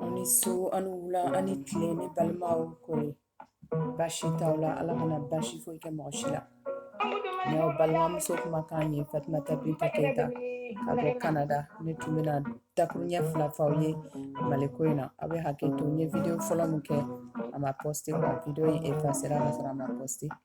Aw ni su aw ni wula aw ni tile ne balimaw kori baasi t'aw la Ala kana baasi foyi kɛ mɔgɔ si la n y'aw balimamuso kumakan ye Fatumata Binta Keyita ka bɔ Canada ne tun bɛna dakuruɲɛ fila f'aw ye Mali ko in na aw bɛ hakɛ to n ye video fɔlɔ min kɛ a ma poste quoi video in effacera ka sɔrɔ a ma poste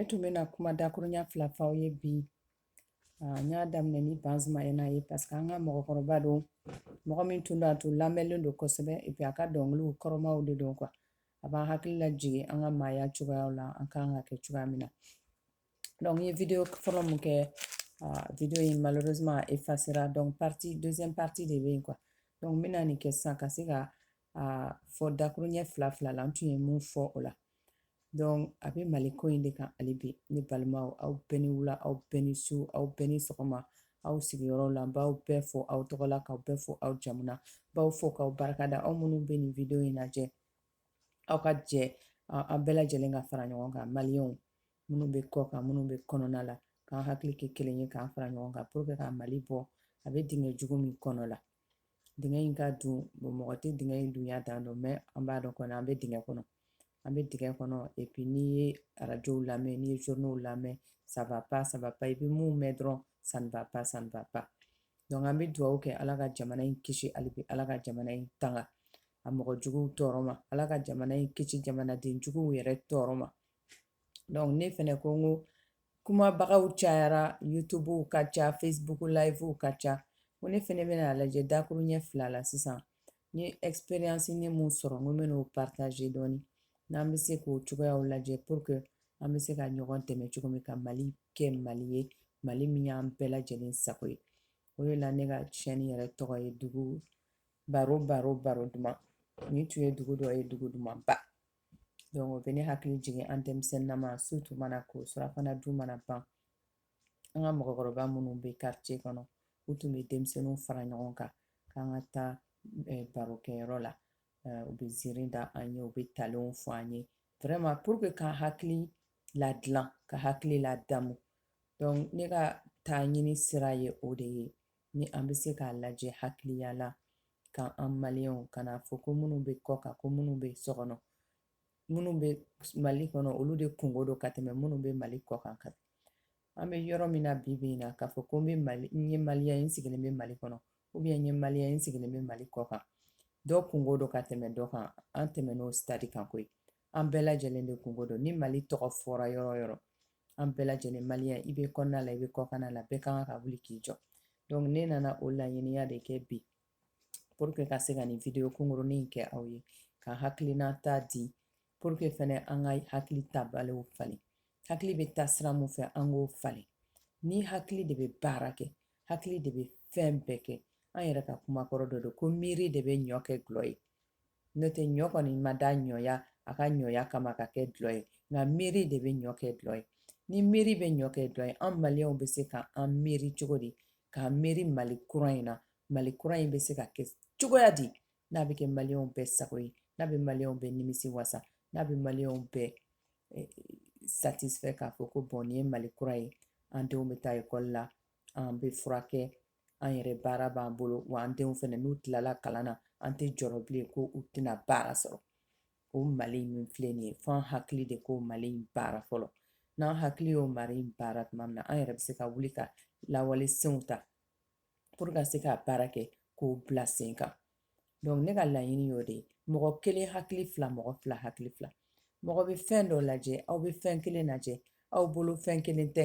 ne tun bɛna kuma dakuruɲɛ fila f'aw ye bi n y'a daminɛ ni Banzumana ye parce que an ka mɔgɔkɔrɔba don mɔgɔ min tun don a tun lamɛnlen don kosɛbɛ et puis a ka dɔnkiliw kɔrɔmaw de don quoi a b'an hakili lajigin an ka maaya cogoyaw la an kan ka kɛ cogoya min na n ye video fɔlɔ min kɛ video in malheureusement a efasera donc partie deuxième partie de bɛ yen quoi donc n bɛna nin kɛ sisan ka se ka a fɔ dakuruɲɛ fila fila la n tun ye mun fɔ o la donc a bɛ mali ko in de kan hali bi ne balimaw aw bɛɛ ni wula aw bɛɛ ni su aw bɛɛ ni sɔgɔma aw sigiyɔrɔw la n b'aw bɛɛ fo aw tɔgɔ la k'aw bɛɛ fo aw jamu na n b'aw fo k'aw barika da aw minnu bɛ nin video in lajɛ aw ka jɛ an bɛɛ lajɛlen ka fara ɲɔgɔn kan maliyɛnw minnu bɛ kɔ kan minnu bɛ kɔnɔna la k'an hakili kɛ kelen ye k'an fara ɲɔgɔn kan pour que ka mali bɔ a bɛ dingɛ jugu min kɔnɔ la dingɛ in ka dun mɔgɔ tɛ dingɛ in dunya dan dɔn mais an b'a dɔn kɔni an bɛ dingɛ kɔnɔ an bɛ dingɛ kɔnɔ et puis n'i ye arajow lamɛn n'i ye zoniw lamɛn ça va pas ça va pas i bɛ mun mɛn dɔrɔn ça va pas ça va pas donc an bɛ dugawu kɛ ala ka jamana in kisi hali bi ala ka jamana in tanga a mɔgɔ juguw tɔɔrɔ ma ala ka jamana in kisi jamanaden juguw yɛrɛ tɔɔrɔ ma donc ne fana ko n ko kumabagaw cayara YouTubew ka ca Facebook livew ka ca ko ne fana bɛna lajɛ dakuruɲɛ fila la sisan n ye expérience min sɔrɔ n bɛn'o partager dɔɔnin n'an bɛ se k'o cogoyaw lajɛ pour que an bɛ se ka ɲɔgɔn dɛmɛ cogo min ka mali kɛ mali ye mali min y'an bɛɛ lajɛlen sago ye o de la ne ka tiɲɛni yɛrɛ tɔgɔ ye dugu baro baro baro duman nin tun ye dugu dɔ ye dugu dumanba Donc o bɛ ne hakili jigin an denmisɛnnama su tun mana ko surafana dun mana ban an ka mɔgɔkɔrɔba minnu bɛ quartier kɔnɔ u tun bɛ denmisɛnninw fara ɲɔgɔn kan k'an ka taa eh, barokɛyɔrɔ la eh, u bɛ ziiri da an ye u bɛ talenw fɔ an ye vraiment pour que k'an hakili ladilan ka hakili ladamu donc ne ka taa ɲini sira ye o de ye ni an bɛ se k'a lajɛ hakiliya la ka an maliyɛnw kana a fɔ ko minnu bɛ kɔ kan ko minnu bɛ so kɔnɔ minnu bɛ mali kɔnɔ olu de kungo don ka tɛmɛ minnu bɛ mali kɔ kan ka an bɛ yɔrɔ min na bi bi in na k'a fɔ ko n bɛ mali n ye maliyɛn sigilen bɛ mali kɔnɔ ou bien n ye maliyɛn sigilen bɛ mali kɔ kan dɔ kungo don ka tɛmɛ dɔ kan an tɛmɛn'o stade kan koyi an bɛɛ lajɛlen de kunko don ni mali tɔgɔ fɔra yɔrɔ o yɔrɔ an bɛɛ lajɛlen maliyɛn i bɛ kɔnɔna la i bɛ kɔkana la bɛɛ kan ka wuli k'i jɔ donc ne nana o laɲiniya de kɛ bi pour que ka se ka nin video kunkurunin in kɛ aw ye ka hakilinata di pour que fɛnɛ an ka hakili taabolow falen hakili bɛ taa sira min fɛ an k'o falen ni hakili de bɛ baara kɛ hakili de bɛ fɛn bɛɛ kɛ an yɛrɛ ka kuma kɔrɔ dɔ don ko miiri de bɛ ɲɔ kɛ dulɔ ye n'o tɛ ɲɔ kɔni ma da ɲɔya a ka ɲɔya kama ka kɛ dulɔ ye nka miiri de bɛ ɲɔ kɛ dulɔ ye ni miiri bɛ ɲɔ kɛ dulɔ ye an maliyɛnw bɛ se ka an miiri cogo di k'a miiri mali kura in na mali kura in bɛ se ka kɛ cogoya di n'a bɛ kɛ maliyɛnw bɛɛ sago ye n'a bɛ maliyɛnw bɛɛ nimisi wasa n'a bɛ maliyɛnw bɛɛ eh, satisfɛ k'a fɔ ko bɔn nin ye mali kura ye an denw bɛ taa ekɔli la an bɛ furakɛ an yɛrɛ baara b'an bolo wa an denw fana n'u tilala kalan na an tɛ jɔrɔ bilen ko u tɛna baara sɔrɔ o mali min filɛ nin ye fo an hakili de k'o mali in baara fɔlɔ n'an hakili y'o mali in baara tuma min na an yɛrɛ bɛ se ka wuli ka lawale senw ta pour ka se ka baara kɛ k'o bila sen kan donc ne ka laɲini y'o de ye mɔgɔ kelen hakili fila mɔgɔ fila hakili fila mɔgɔ bɛ fɛn dɔ lajɛ aw bɛ fɛn kelen lajɛ aw bolo fɛn kelen tɛ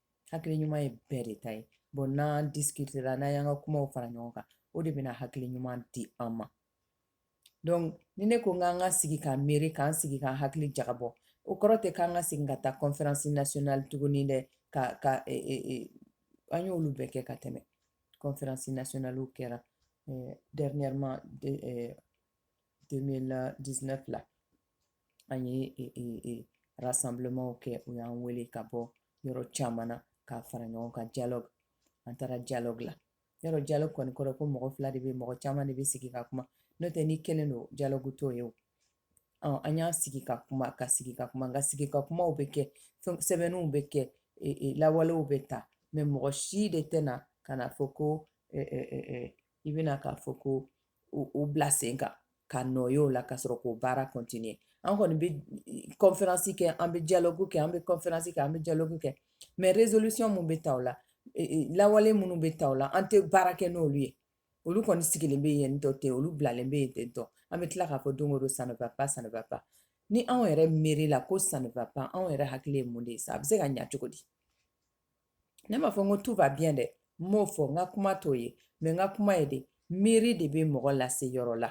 hakili ɲuman ye bɛɛ de ta ye bɔn n'an disikitera n'an y'an ka kumaw fara ɲɔgɔn kan o de bɛna hakili ɲuman di an ma donc ni ne ko n k'an ka sigi k'an miiri k'an sigi k'an hakili jagabɔ o kɔrɔ tɛ k'an ka segin ka taa conference nationale tuguni dɛ ka ka e, e, e, an y'olu bɛɛ kɛ ka tɛmɛ conference nationalew kɛra dernièrement 2019 la an ye e, e, e, rassemblementw kɛ u y'an wele ka bɔ yɔrɔ caman na ka fara ɲɔgɔn kan dialogue an taara dialogue la yɔrɔ dialogue kɔni kɔrɔ ko mɔgɔ fila de bɛ mɔgɔ caman de bɛ sigi ka kuma n'o tɛ n'i kelen don dialogue t'o ye o ɔ an y'an sigi ka kuma ka sigi ka kuma nka sigi ka kumaw bɛ kɛ sɛbɛnniw bɛ kɛ lawalew bɛ ta mɛ mɔgɔ si de tɛ na ka n'a fɔ ko i bɛna k'a fɔ ko o bila sen kan ka nɔ ye o la ka sɔrɔ k'o baara kɔntinye an kɔni bɛ kɔnfɛransi kɛ an bɛ dialogue kɛ an bɛ kɔnfɛransi kɛ an bɛ dialogue kɛ mɛ rezolisiyɔn minnu bɛ ta o la e, e, lawale minnu bɛ ta o la an tɛ baara kɛ n'olu ye olu kɔni sigilen bɛ yen tɔ ten olu bilalen bɛ yen ten tɔ an bɛ tila k'a fɔ don o don ça ne va pas ça ne va pas ni anw yɛrɛ miiri la ko ça ne va pas anw yɛrɛ hakili ye mun de ye sa a bɛ se ka ɲa cogo di ne m'a fɔ n ko tout va bien dɛ n m'o fɔ n ka kuma t'o ye mɛ n ka kuma ye de miiri de bɛ mɔgɔ lase yɔrɔ la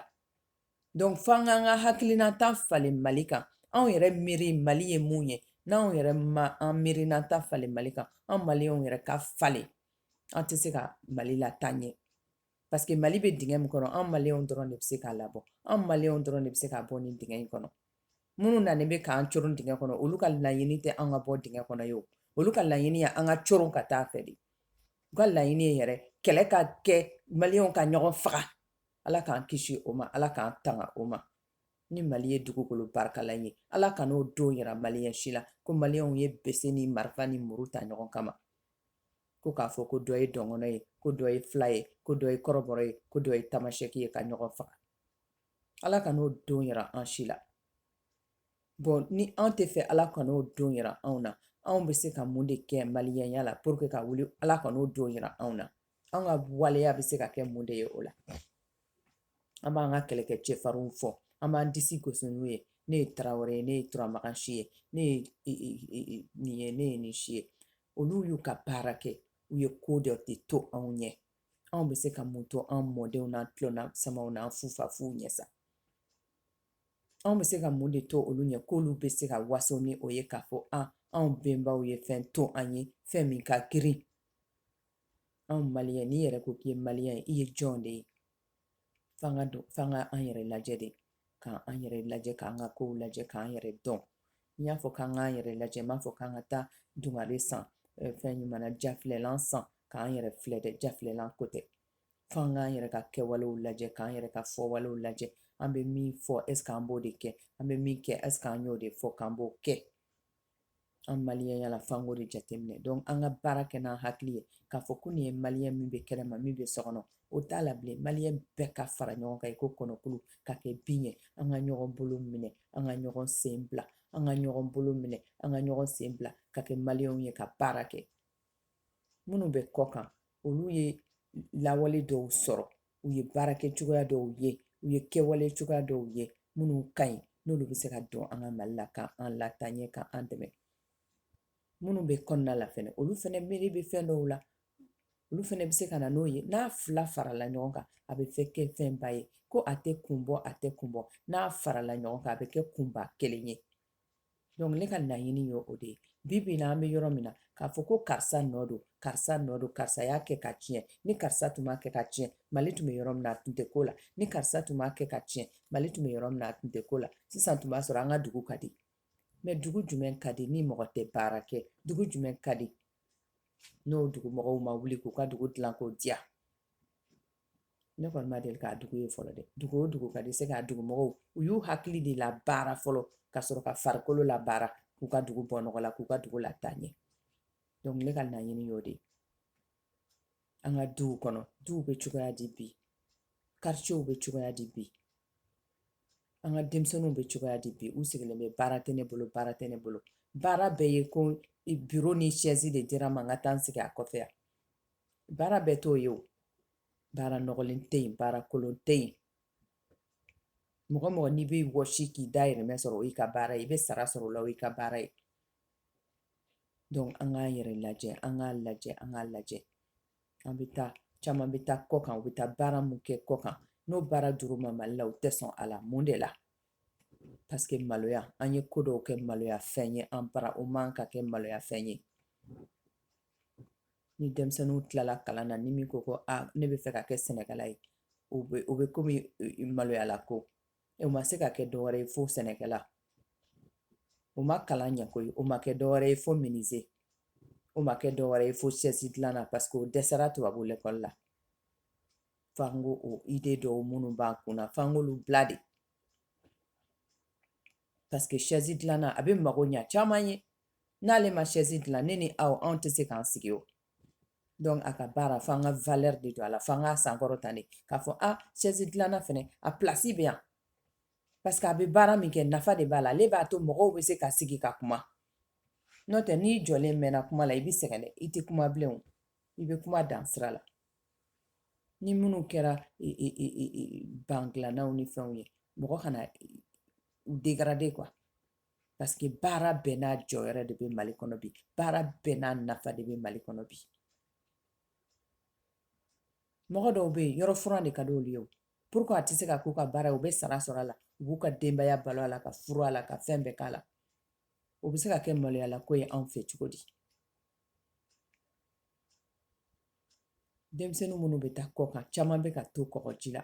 donc f'an k'an ka hakilinata falen mali kan anw yɛrɛ miiri mali ye mun ye n'anw yɛrɛ ma an miirinata falen mali kan an maliyɛnw yɛrɛ ka falen an tɛ se ka mali lataa ɲɛ parce que mali bɛ dingɛ min kɔnɔ an maliw dɔrɔn de bɛ se k'a labɔ an maliw dɔrɔn de bɛ se k'a bɔ nin dingɛ in kɔnɔ minnu nana bɛ k'an coron dingɛ kɔnɔ olu ka laɲini tɛ an ka bɔ dingɛ kɔnɔ ye olu ka laɲini ye an ka coron ka taa fɛ de u ka laɲini ye yɛrɛ kɛlɛ ka kɛ maliw ka ɲɔgɔn faga ala k'an kisi o ma ala k'an tanga o ma ni mali ye dugukolo barikama ye ala kan'o don yira maliyɛn si la ko maliyɛnw ye bese ni marifa ni muru ta ɲɔgɔn kama ko k'a fɔ ko dɔ ye dɔgɔnɔ ye ko dɔ ye fila ye ko dɔ ye kɔrɔbɔrɔ ye ko dɔ ye tamasɛki ye ka ɲɔgɔn faga ala kan'o don yira an si la bon ni an tɛ fɛ ala kan'o don yira anw na anw bɛ se ka mun de kɛ maliyɛnya la pour que ka wuli ala kan'o don yira anw na an ka waleya bɛ se ka kɛ mun de ye o la an b'an ka kɛlɛkɛcɛfarinw fɔ an b'an disi gosi n'u ye ne ye tarawele ye ne ye turamakan si ye ne ye nin ye ne ye nin si ye olu y'u ka baara kɛ u ye ko dɔ de to anw ɲɛ anw bɛ se ka mun to an mɔdenw n'an tulomasamaw n'an fufafuw ɲɛ sa anw bɛ se ka mun de to olu ɲɛ k'olu bɛ se ka waso ni o ye k'a fɔ an anw bɛnbaw ye fɛn to an ye fɛn min ka girin anw maliyɛnw n'i yɛrɛ ko k'i ye maliyɛn ye i ye jɔn de ye f'an k'a dɔn f'an ka an yɛrɛ lajɛ de k'an an yɛrɛ lajɛ k'an ka kow lajɛ k'an yɛrɛ dɔn n y'a fɔ k'an k'an yɛrɛ lajɛ n m'a fɔ k'an ka taa dungare san fɛn ɲuman jafilɛlan san k'an yɛrɛ filɛ dɛ jafilɛlan ko tɛ f'an k'an yɛrɛ ka kɛwalew lajɛ k'an yɛrɛ ka fɔwalew lajɛ an bɛ min fɔ est-ce que an b'o de kɛ an bɛ min kɛ est-ce que an y'o de fɔ k'an b'o kɛ An maliyɛnw yala f'an k'o de jateminɛ donc an ka baara kɛ n'an hakili ye k'a fɔ ko nin ye maliyɛn min bɛ kɛnɛma min bɛ so kɔnɔ o t'a la bilen maliyɛn bɛɛ ka fara ɲɔgɔn kan i ko kɔnɔkulu ka kɛ bin ye an ka ɲɔgɔn bolo minɛ an ka ɲɔgɔn sen bila an ka ɲɔgɔn bolo minɛ an ka ɲɔgɔn sen bila ka kɛ maliyɛnw ye ka baara kɛ minnu bɛ kɔ kan olu ye lawale dɔw sɔrɔ u ye baarakɛcogoya dɔw ye u ye kɛwalecogoya dɔw ye minnu ka ɲi n'olu bɛ se ka don an ka mali la ka an lataa ɲɛ ka an dɛmɛ minnu bɛ kɔnɔna la fɛnɛ olu fɛnɛ miiri bɛ fɛn dɔw la olu fɛnɛ bɛ se ka na n'o ye n'a fila farala ɲɔgɔn kan a bɛ fɛ kɛ fɛnba ye ko a tɛ kun bɔ a tɛ kun bɔ n'a farala ɲɔgɔn kan a bɛ kɛ kunba kelen ye Donc ne ka laɲini ye o de ye bi bi in na an bɛ yɔrɔ min na k'a fɔ ko karisa nɔ don karisa nɔ don karisa y'a kɛ ka tiɲɛ ni karisa tun m'a kɛ ka tiɲɛ mali tun bɛ yɔrɔ min a tun tɛ k'o la ni karisa tun m'a kɛ ka tiɲɛ mali tun bɛ yɔrɔ min a tun tɛ k'o la sisan tun b'a sɔrɔ an ka dugu ka di mais dugu jumɛn ka di ni mɔgɔ tɛ baara kɛ dugu jumɛn ka di n'o dugumɔgɔw ma wuli k'u ka dugu dilan k'o diya ne kɔni ma deli k'a dugu ye fɔlɔ dɛ dugu o dugu ka di c'est qu'a dugumɔgɔw u y'u hakili de labaara fɔlɔ ka sɔrɔ ka farikolo labaara k'u ka dugu bɔ nɔgɔ la k'u ka dugu lataa ɲɛ donc ne ka laɲini y'o de ye an ka duw kɔnɔ duw bɛ cogoya di bi kartiyew bɛ cogoya di bi an ka denmisɛnninw bɛ cogoya di bi u sigilen bɛ baara tɛ ne bolo baara tɛ ne bolo baara bɛɛ ye ko biro ni sɛzi de dira n ma n ka taa n sigi a kɔfɛ yan baara bɛɛ t'o ye o baara nɔgɔlen tɛ yen baara kolon tɛ yen mɔgɔ mɔgɔ n'i bɛ wɔsi k'i dahirimɛ sɔrɔ o y'i ka baara ye i bɛ sara sɔrɔ o la o y'i ka baara ye donc an k'an yɛrɛ lajɛ an k'a lajɛ an k'a lajɛ an bɛ taa caman bɛ taa kɔ kan u bɛ taa baara mun kɛ kɔ kan n'o baara dir'u ma mali la u tɛ sɔn a la mun de la paseke maloya an ye ko dɔw kɛ maloya fɛn ye an bara o man ka kɛ maloya fɛn ye ni denmisɛnninw tilala kalan na ni min ko ko aa ne bɛ fɛ ka kɛ sɛnɛkɛla ye o bɛ o bɛ komi maloyala ko o ma se ka kɛ dɔwɛrɛ ye fo sɛnɛkɛla o ma kalan ɲɛ koyi o ma kɛ dɔwɛrɛ ye fo minize o ma kɛ dɔwɛrɛ ye fo sɛsi dilanna paseke o dɛsɛra tubabu lɛkɔli la f'an k'o ide dɔw minnu b'an kunna f'an k'olu bila de paseke sɛsi dilanna a bɛ mago ɲɛ caman ye n'ale ma sɛsi dilan ne ni aw anw tɛ se k'an sigi o donc a ka baara fo an ka valeur de don a la fo an k'a sankɔrɔta de k'a fɔ a sɛsi dilanna fana a plasi bɛ yan parce que a bɛ baara min kɛ nafa de b'a la ale b'a to mɔgɔw bɛ se ka sigi ka kuma n'o tɛ n'i jɔlen mɛnna kuma la i bɛ sɛgɛn dɛ i tɛ kuma bilen o i bɛ kuma dan sira la ni minnu kɛra ban dilannaw ni fɛnw ye mɔgɔ kana u degarade quoi parce que baara bɛɛ n'a jɔyɔrɔ de bɛ mali kɔnɔ bi baara bɛɛ n'a nafa de bɛ mali kɔnɔ bi mɔgɔ dɔw bɛ yen yɔrɔ furan de ka di olu ye o pourquoi a tɛ se ka k'u ka baara ye u bɛ sara sɔrɔ a la u b'u ka denbaya balo a la ka furu a la ka fɛn bɛɛ k'a la o bɛ se ka kɛ maloyala ko ye anw fɛ cogo di denmisɛnnin minnu bɛ taa kɔ kan caman bɛ ka to kɔgɔji la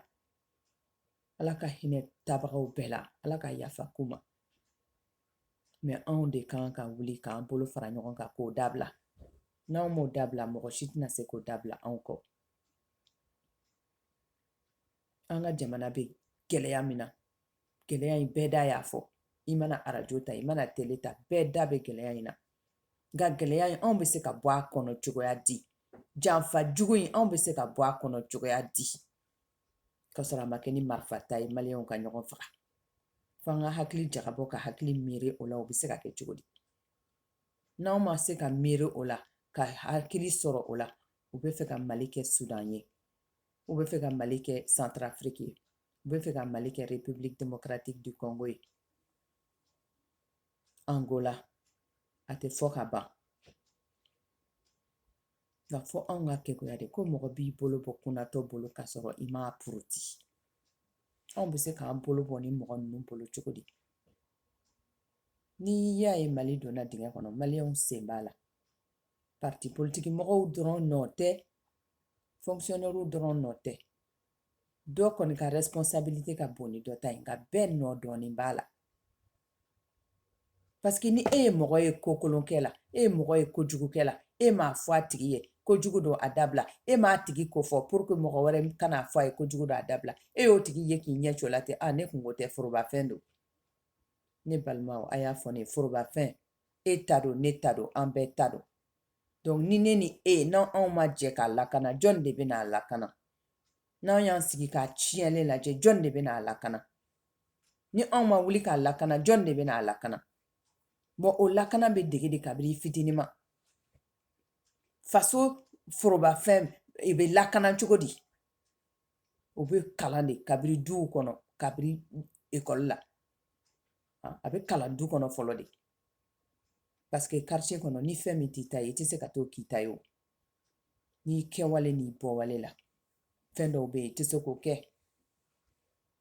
ala ka hinɛ taabagaw bɛɛ la ala ka yafa k'u ma mɛ anw de ka kan ka wuli k'an bolo fara ɲɔgɔn kan k'o dabila n'anw m'o dabila mɔgɔ si tɛna se k'o dabila anw kɔ an ka jamana bɛ gɛlɛya min na gɛlɛya in bɛɛ da y'a fɔ i mana arajo ta i mana tele ta bɛɛ da bɛ gɛlɛya in na nka gɛlɛya in anw bɛ se ka bɔ a kɔnɔ cogoya di janfa jugu in anw bɛ se ka bɔ a kɔnɔ cogoya di ka sɔrɔ a ma kɛ ni marifa ta ye maliyɛnw ka ɲɔgɔn faga fo an ka hakili jagabɔ ka hakili miiri o la o bɛ se ka kɛ cogo di n'aw ma se ka miiri o la ka hakili sɔrɔ o la u bɛ fɛ ka mali kɛ sudan ye u bɛ fɛ ka mali kɛ santarafiriki ye u bɛ fɛ ka mali kɛ republique democratique du congo ye angola a tɛ fɔ ka ban nka fo anw ka kekuya de ko mɔgɔ b'i bolo bɔ kunnatɔ bolo k'a sɔrɔ i m'a poroti anw bɛ se k'an bolo bɔ nin mɔgɔ ninnu bolo cogo di n'i y'a ye mali donna dingɛ kɔnɔ maliyɛnw sen b'a la parti politiki mɔgɔw dɔrɔn nɔ tɛ fonkisiyɔnɛriw dɔrɔn nɔ tɛ dɔ kɔni ka responsabilite ka bon ni dɔ ta ye nka bɛɛ nɔ dɔɔnin b'a la Parce que ni e ye mɔgɔ ye kokolon kɛ la e ye mɔgɔ ye kojugu kɛ la e m'a fɔ a tigi ye ko jugu don a dabila e m'a tigi ko fɔ pour que mɔgɔ wɛrɛ kana'a fɔ a ye ko jugu don a dabila e y'o tigi ye k'i ɲɛ cogo la ten ne kunko tɛ forobafɛn don ne balima a y'a fɔ ne forobafɛn e ta don ne ta don an bɛɛ ta don donc ni ne ni e n'an ma jɛ k'a lakana jɔnni de bɛna'a lakana n'an y'an sigi k'a tiɲɛlen lajɛ jɔnni de bɛna'a lakana ni anw ma wuli k'a lakana jɔn de bɛna a lakana bon o lakana bɛ dege de kabiri i fitinin ma faso forobafɛn i bɛ lakana cogo di o bɛ kalan de kabiri duw kɔnɔ kabiri ekɔli la a bɛ kalan du kɔnɔ fɔlɔ de parce que quartier kɔnɔ ni fɛn min t'i ta ye i tɛ se ka t'o k'i ta ye o n'i kɛwale n'i bɔwale la fɛn dɔw bɛ yen i tɛ se k'o kɛ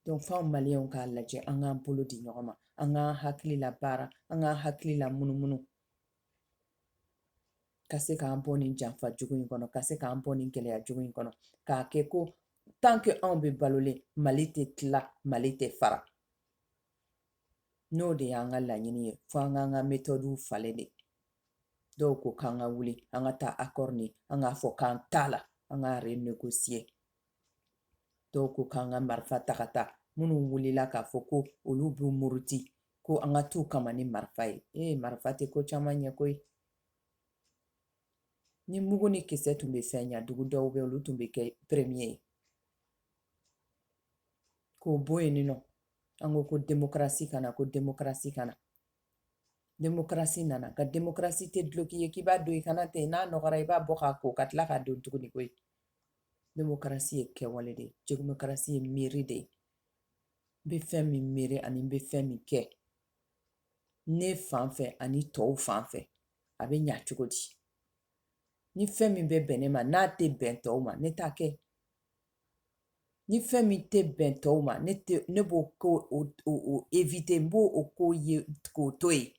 donc fo an maliyɛnw k'a lajɛ an k'an bolo di ɲɔgɔn ma an k'an hakili labaara an k'an hakili lamunumunu ka se k'an bɔ nin janfa jugu in kɔnɔ ka se k'an bɔ nin gɛlɛya jugu in kɔnɔ k'a kɛ ko tant que anw bɛ balolen mali tɛ tila mali tɛ fara n'o de y'an ka laɲini ye fo an k'an ka metɔdiw falen de dɔw ko k'an ka wuli an ka taa akɔri nin an k'a fɔ k'an t'a la an k'a renegosiye dɔw ko k'an ka marifa ta ka taa minnu wulila k'a fɔ ko olu b'u muruti ko an ka t'u kama ni marifa ye ee marifa tɛ ko caman ɲɛ koyi ni mugu ni kisɛ tun bɛ fɛn ɲa dugu dɔw bɛ olu tun bɛ kɛ peremiye ye k'o bɔ yen nɔ an ko ko demokarasi ka na ko demokarasi ka na demokarasi nana nka demokarasi tɛ duloki ye k'i b'a don i kan na ten n'a nɔgɔra i b'a bɔ k'a ko ka tila k'a don tuguni koyi demokarasi ye kɛwale de ye demokarasi ye miiri de ye n bɛ fɛn min miiri ani n bɛ fɛn min kɛ ne fan fɛ ani tɔw fan fɛ a bɛ ɲa cogo di ni fɛn min bɛ bɛn ne ma n'a tɛ bɛn tɔw ma ne t'a kɛ ni fɛn min tɛ bɛn tɔw ma ne b'o éviter n b'o ko ye k'o to yen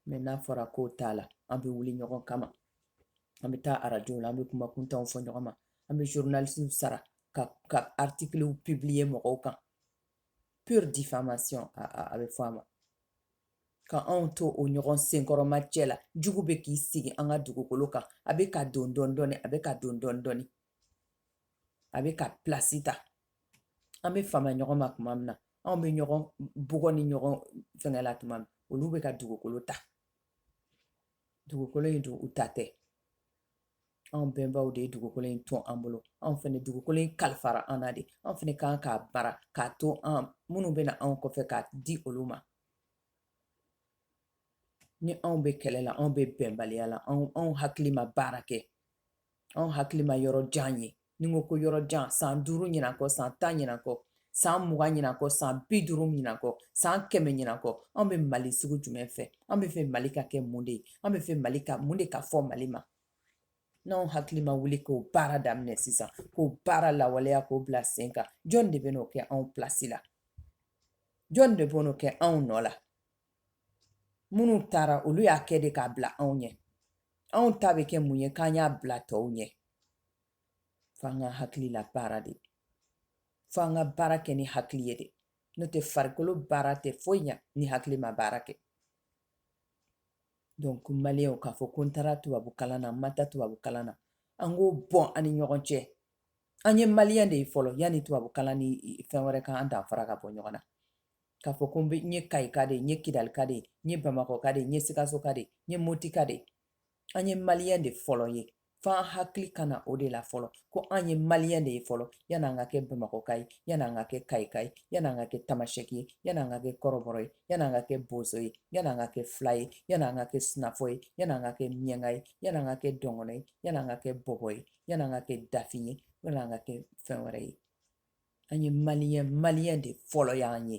mais n'a fɔra k'o t'a la an bɛ wuli ɲɔgɔn kama an bɛ taa arajo la an bɛ kuma kuntanw fɔ ɲɔgɔn ma an bɛ journalisiw sara ka ka artikiliw publier mɔgɔw kan pure diffamation a bɛ fɔ a ma ka anw to o ɲɔgɔn senkɔrɔmacɛ la jugu bɛ k'i sigi an ka dugukolo kan a bɛ ka don dɔɔni dɔɔni a bɛ ka don dɔɔni dɔɔni a bɛ ka plasi ta an bɛ fama ɲɔgɔn ma tuma min na anw bɛ ɲɔgɔn bugɔ ni ɲɔgɔn fɛngɛ la tuma min olu bɛ ka dugukolo ta dugukolo in dun u ta tɛ anw bɛnbaw de ye dugukolo in to an bolo anw fana dugukolo in kalifara an na de anw fana kan k'a baara k'a to an minnu bɛ na anw kɔfɛ k'a di olu ma ni anw bɛ kɛlɛ la anw bɛ bɛnbaliya la anw anw hakili ma baara kɛ anw hakili ma yɔrɔ jan ye ni n ko ko yɔrɔ jan san duuru ɲinan kɔ san tan ɲinan kɔ san mugan ɲinan kɔ san bi duuru ɲinan kɔ san kɛmɛ ɲinan kɔ anw bɛ mali sugu jumɛn fɛ an bɛ fɛ mali ka kɛ mun de ye an bɛ fɛ mali ka mun de ka fɔ mali ma n'anw hakili ma wuli k'o baara daminɛ sisan k'o baara lawaleya k'o bila sen kan jɔn de bɛ n'o kɛ anw pilasi la jɔn de bɛ n'o kɛ anw nɔ la minnu taara olu y'a kɛ de k'a bila anw ɲɛ anw ta bɛ kɛ mun ye k'an y'a bila tɔw ɲɛ f'an ka hakili labaara de f'an ka baara kɛ ni hakili ye de n'o tɛ farikolo baara tɛ foyi ɲa ni hakili ma baara kɛ donc maliyɛnw k'a fɔ ko n taara tubabu kalan na n ma taa tubabu kalan na an k'o bɔ an ni ɲɔgɔn cɛ an ye maliyɛn de ye fɔlɔ yanni tubabu kalan ni fɛn wɛrɛ ka an danfara ka bɔ ɲɔgɔn na k'a fɔ ko n bɛ n ye kayika de n ye kidalika de n ye bamakɔka de n ye sikasoka de n ye motika de an ye maliyɛn de fɔlɔ ye f'an hakili ka na o de la fɔlɔ ko an ye maliyɛn de ye fɔlɔ yanni an ka kɛ bamakɔka ye yanni an ka kɛ kayika ye yanni an ka kɛ tamasɛki ye yanni an ka kɛ kɔrɔbɔrɔ ye yanni an ka kɛ bozo ye yanni an ka kɛ fila ye yanni an ka kɛ sinafɔ ye yanni an ka kɛ miɲɛnka ye yanni an ka kɛ dɔgɔnɔ ye yanni an ka kɛ bɔbɔ ye yanni an ka kɛ dafin ye yanni an ka kɛ fɛn wɛrɛ ye an ye maliyɛn maliyɛn de fɔlɔ y'an ye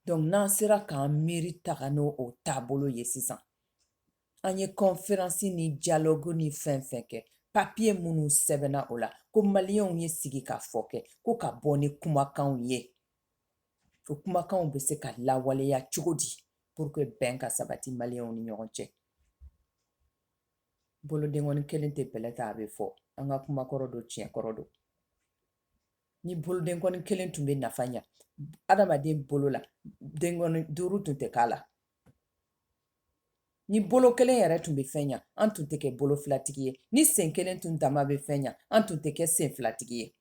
donc n'an sera k'an miiri taga n'o o taabolo ye sisan an ye kɔnferansi ni dialogue ni fɛn fɛn kɛ papiye minnu sɛbɛnna o la ko maliyɛnw ye sigikafɔ kɛ ko ka bɔ ni kumakanw ye o kumakanw bɛ se ka lawaleya cogo di pour que bɛn ka sabati maliyɛnw ni ɲɔgɔn cɛ bolodenkɔni kelen tɛ bɛlɛ ta a bɛ fɔ an ka kuma kɔrɔ don tiɲɛ kɔrɔ don ni bolodenkɔni kelen tun bɛ nafa ɲa adamaden bolo la denkɔni duuru tun tɛ k'a la ni bolo kelen yɛrɛ tun bɛ fɛn ɲa an tun tɛ kɛ bolo filatigi ye ni sen kelen tun dama bɛ fɛn ɲa an tun tɛ kɛ sen filatigi ye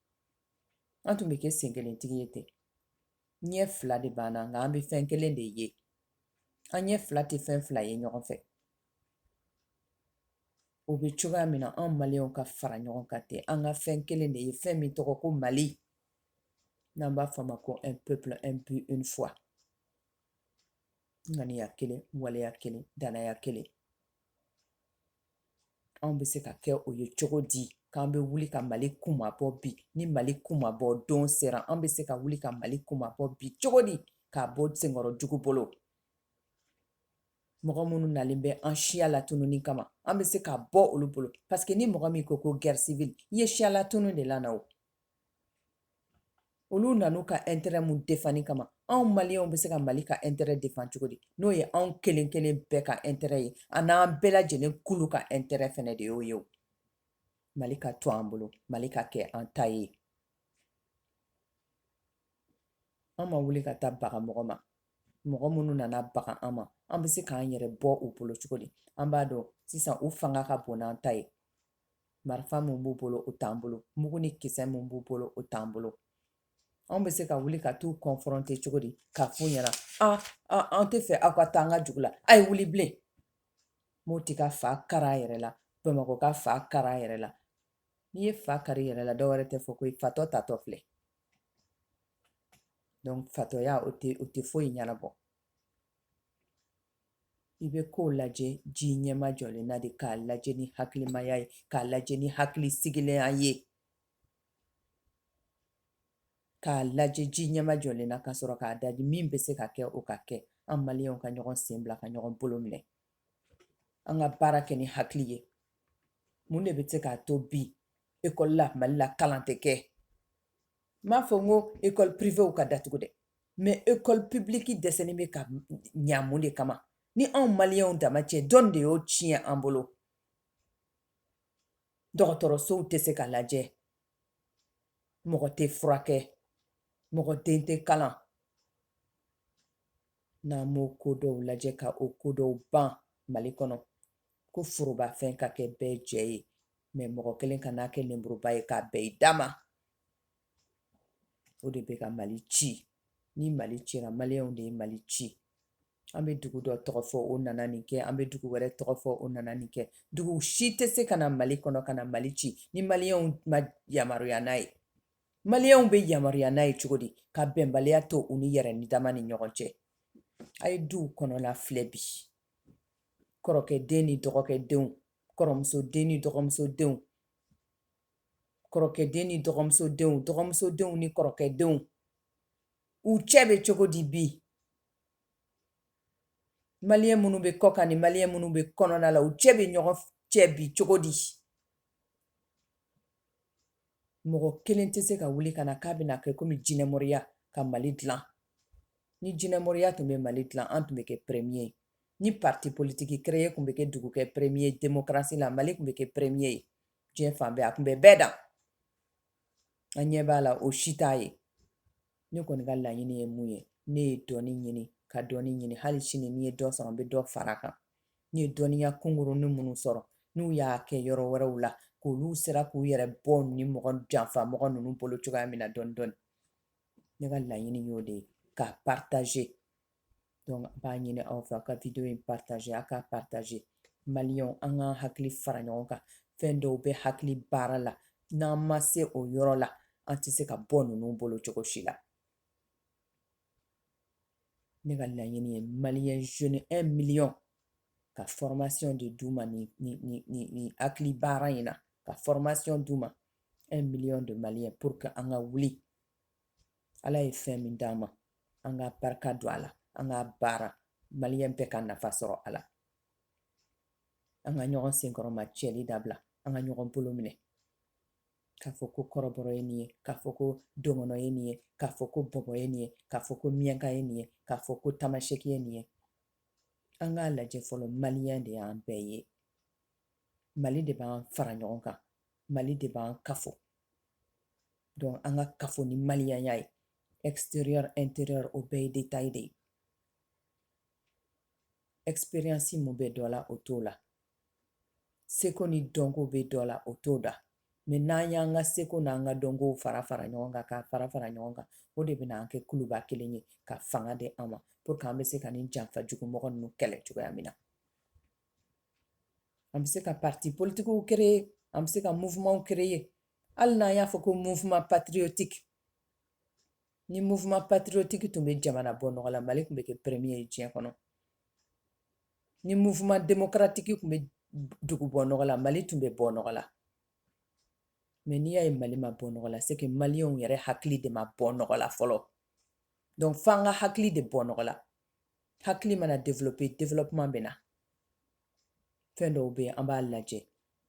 an tun bɛ kɛ sen kelen tigi ye ten ɲɛ fila de b'an na nka an bɛ fɛn kelen de ye an ɲɛ fila tɛ fɛn fila ye ɲɔgɔn fɛ O bɛ cogoya min na an maliyɛnw ka fara ɲɔgɔn kan ten an ka fɛn kelen de ye fɛn min tɔgɔ ko mali n'an b'a fɔ a ma ko un peuple un but une foi ŋaniya kelen waleya kelen dannaya kelen anw bɛ se ka kɛ o ye cogo di k'an bɛ wuli ka mali kunmabɔ bi ni mali kunmabɔ don sera an bɛ se ka wuli ka mali kunmabɔ bi cogo di k'a bɔ senkɔrɔ jugu bolo mɔgɔ minnu nalen bɛ an siya latununi kama an bɛ se ka bɔ olu bolo parce que ni mɔgɔ min ko ko guerre civile i ye siya latunu de lana o olu nan'u ka intérêt min defanni kama anw maliyɛnw bɛ se ka mali ka intérêt defan cogo di n'o ye anw kelen kelen bɛɛ ka intérêt ye a n'an bɛɛ lajɛlen kulu ka intérêt fɛnɛ de y'o ye o mali ka to an bolo mali ka kɛ an ta ye an ma wuli ka taa baga mɔgɔ ma mɔgɔ minnu nana baga an ma an bɛ se k'an yɛrɛ bɔ u bolo cogo di an b'a dɔn sisan u fanga ka bon n'an ta ye marifa min b'u bolo o t'an bolo mugu ni kisɛ min b'u bolo o t'an bolo anw bɛ se ka wuli ka t'u kɔnfrɔnte cogo di k'a f'u ɲɛna an tɛ fɛ aw ka taa an ka jugu la a ye wuli bilen n'o tɛ ka fa kar'a yɛrɛ la bamanan ko ka fa kar'a yɛrɛ la n'i ye fa kari yɛrɛ la dɔ wɛrɛ tɛ fɔ ko fatɔ taatɔ filɛ fatɔya o tɛ o tɛ foyi ɲɛnabɔ i bɛ ko lajɛ ji ɲɛmajɔlen na de k'a lajɛ ni hakilimaya ye k'a lajɛ ni hakili sigilenya ye k'a lajɛ ji ɲɛmajɔlen na ka sɔrɔ k'a daji min bɛ se ka kɛ o ka kɛ an maliyɛnw ka ɲɔgɔn sen bila ka ɲɔgɔn bolo minɛ an ka baara kɛ ni hakili ye mun de bɛ se k'a to bi ekɔli la mali la kalan tɛ kɛ n m'a fɔ n ko ekɔli pirivew ka datugu dɛ mɛ ekɔli pibiliki dɛsɛlen bɛ ka ɲa mun de kama ni anw maliyɛnw dama cɛ dɔn de y'o tiɲɛ an bolo dɔgɔtɔrɔsow tɛ se ka lajɛ mɔgɔ tɛ furakɛ mɔgɔ den tɛ kalan n'an b'o ko dɔw lajɛ ka o ko dɔw ban mali kɔnɔ ko forobafɛn ka kɛ bɛɛ jɛ ye mɛ mɔgɔ kelen kan'a kɛ lenburuba ye k'a bɛɛ i dama o de bɛ ka mali ci ni mali cira maliyɛnw de ye mali ci an bɛ dugu dɔ tɔgɔ fɔ o nana nin kɛ an bɛ dugu wɛrɛ tɔgɔ fɔ o nana nin kɛ dugu si tɛ se ka na mali kɔnɔ ka na mali ci ni maliyɛnw ma yamaruya n'a ye Maliyɛnw bɛ yamaruya n'a ye cogo di ka bɛnbaliya to u ni yɛrɛ ni dama ni ɲɔgɔn cɛ a ye duw kɔnɔna filɛ bi kɔrɔkɛ den ni dɔgɔkɛ denw kɔrɔmuso den ni dɔgɔmuso denw kɔrɔkɛ den ni dɔgɔmuso denw dɔgɔmuso denw ni kɔrɔkɛ denw u cɛ bɛ cogo di bi maliyɛn minnu bɛ kɔkan ni maliyɛn minnu bɛ kɔnɔna la u cɛ bɛ ɲɔgɔn cɛ bi cogo di mɔgɔ kelen tɛ se ka wuli ka na k'a bɛna kɛ komi jinɛmoriya ka mali dilan ni jinɛmoriya tun bɛ mali dilan an tun bɛ kɛ prɛmiye ye ni parti politiki kereye tun bɛ kɛ dugu kɛ prɛmiye demokarasi la mali tun bɛ kɛ prɛmiye ye diɲɛ fan bɛɛ a tun bɛ bɛɛ dan an ɲɛ b'a la o si t'a ye ne kɔni ka laɲini ye mun ye ne ye dɔnni ɲini ka dɔnni ɲini hali sini ni n ye dɔ sɔrɔ n bɛ dɔ fara kan n ye dɔnniya kunkurunnin minnu sɔrɔ n'u y'a kɛ yɔrɔ wɛrɛw la k'olu sera k'u yɛrɛ bɔ nin mɔgɔ janfa mɔgɔ ninnu bolo cogoya min na dɔn dɔn ne ka laɲini y'o de ye ka pataze dɔnku n b'a ɲini aw fɛ ka wideyo in pataze a ka pataze mali an ka hakili fara ɲɔgɔn kan fɛn dɔw bɛ hakili baara la n'an ma se o yɔrɔ la an tɛ se ka bɔ ninnu bolo cogo si la ne ka laɲini ye maliyɛn jeunes un miliyɔn ka fɔrɔmasiyɔn de d'u ma nin hakili baara in na ka fɔrɔmasiyɔn d'u ma un miliyɔn de maliyɛn pour que an ka wuli ala ye fɛn min d'an ma an ka barika don a la an ka baara maliyɛn bɛɛ ka nafa sɔrɔ a la an ka ɲɔgɔn senkɔrɔma cɛli dabila an ka ɲɔgɔn bolo minɛ k'a fɔ ko kɔrɔbɔrɔ ye nin ye k'a fɔ ko dɔgɔnɔ ye nin ye k'a fɔ ko bɔbɔ ye nin ye k'a fɔ ko miyanka ye nin ye k'a fɔ ko tamaseki ye nin ye an k'a lajɛ fɔlɔ maliyɛn de y'an bɛɛ ye mali de b'an fara ɲɔgɔn kan mali de b'an kafo donc an ka kafo ni maliyaya ye exterieur interieur o bɛɛ ye detail de ye ɛksperiyansi min bɛ dɔ la o t'o la seko ni dɔnko bɛ dɔ la o t'o la mɛ n'an y'an ka seko n'an ka dɔnko fara fara ɲɔgɔn kan k'a fara fara ɲɔgɔn kan o de bɛna an kɛ kuluba kelen ye ka fanga di an ma pour que an bɛ se ka nin janfa jugumɔgɔ ninnu kɛlɛ cogoya min na an bɛ se ka parti politikiw kereye an bɛ se ka mouvement kereye hali n'an y'a fɔ ko mouvement patriotique ni mouvement patriotique tun bɛ jamana bɔ nɔgɔ la mali tun bɛ kɛ premier ye diɲɛ kɔnɔ ni mouvement démocratique tun bɛ dugu bɔ nɔgɔ la mali tun bɛ bɔ nɔgɔ la mais n'i y'a ye mali ma bɔ nɔgɔ la c'est que maliyɛnw yɛrɛ hakili de ma bɔ nɔgɔ la fɔlɔ donc fo an ka hakili de bɔ nɔgɔ la hakili mana développer développement bɛ na fɛn dɔw bɛ yen an b'a lajɛ